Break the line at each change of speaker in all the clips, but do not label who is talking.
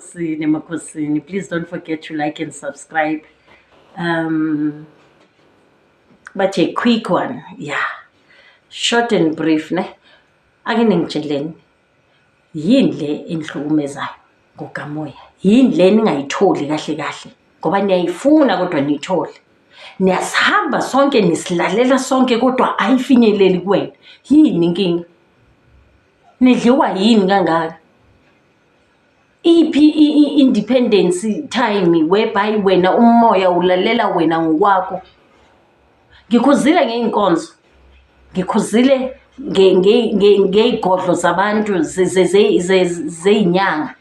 Sine Makosini. Please don't forget to like and subscribe. Um, but a quick one, yeah. Short and brief, ne? Ake ningitsheleni. Yini le enihlukumezayo ngokamoya? Yini le ningayitholi kahle kahle? Ngoba niyayifuna kodwa niyithole. Niyasihamba sonke nisilalela sonke kodwa ayifinyeleli kuwena. Yini inkinga? Nidliwa yini kangaka? iphi i-independence time whereby wena umoya ulalela wena ngokwakho ngikhuzile ngey'nkonzo ngikhuzile ngey'godlo zabantu zey'nyanga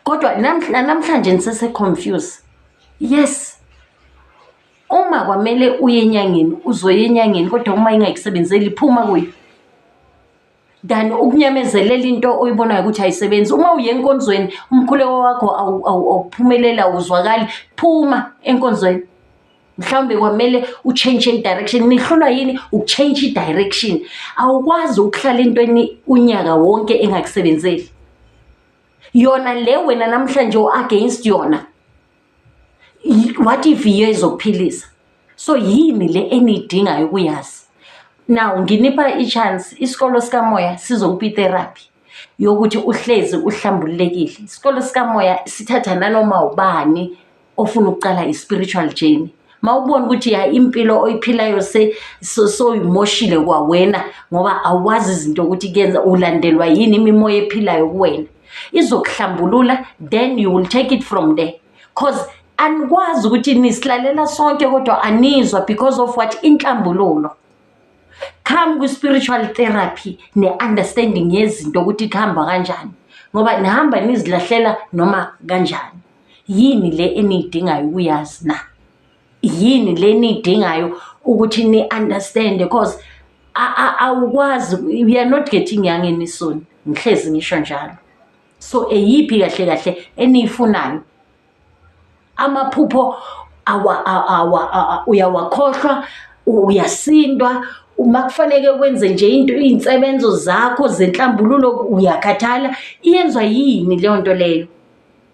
kodwa namhlanje nisese-confuse yes uma kwamele uye enyangeni uzoya enyangeni kodwa uma ingakusebenzeli phuma kuyo than ukunyamezelela into oyibonayo ukuthi ayisebenzi uma uye enkonzweni umkhuleko wakho awuphumelela awuzwakali phuma enkonzweni mhlawumbe kwamele utshentshe i-direction nihlulwa yini ukutshentsha i-direction awukwazi ukuhlala entweni unyaka wonke engakusebenzeli yona le wena namhlanje u-against yona Y- what if yiyo ezokuphilisa so yini le eniyidingayo ukuyazi now nginipha i-chance isikolo sikamoya sizokupha itherapy yokuthi uhlezi uhlambululekile isikolo sikamoya sithatha nanoma ubani ofuna ukuqala i-spiritual journey ma ubona ukuthi ya impilo oyiphilayo se- so- soyimoshile kwawena ngoba awazi izinto ukuthi kuyenza ulandelwa yini imimoya ephilayo kuwena izokuhlambulula then you will take it from there cause anikwazi ukuthi nisilalela sonke kodwa anizwa because of what inhlambululo come kwi-spiritual therapy ne-understanding yezinto ukuthi kuhamba kanjani ngoba nihamba nizilahlela noma kanjani yini le eniyidingayo ukuyazi na yini le niyidingayo ukuthi ni understand because awukwazi we are not getting young any soon ngihlezi ngisho njalo so eyiphi kahle kahle eniyifunayo amaphupho uyawakhohlwa uyasindwa uma kufaneke wenze nje into iy'nsebenzo zakho zenhlambululo uyakhathala iyenzwa yini leyo nto leyo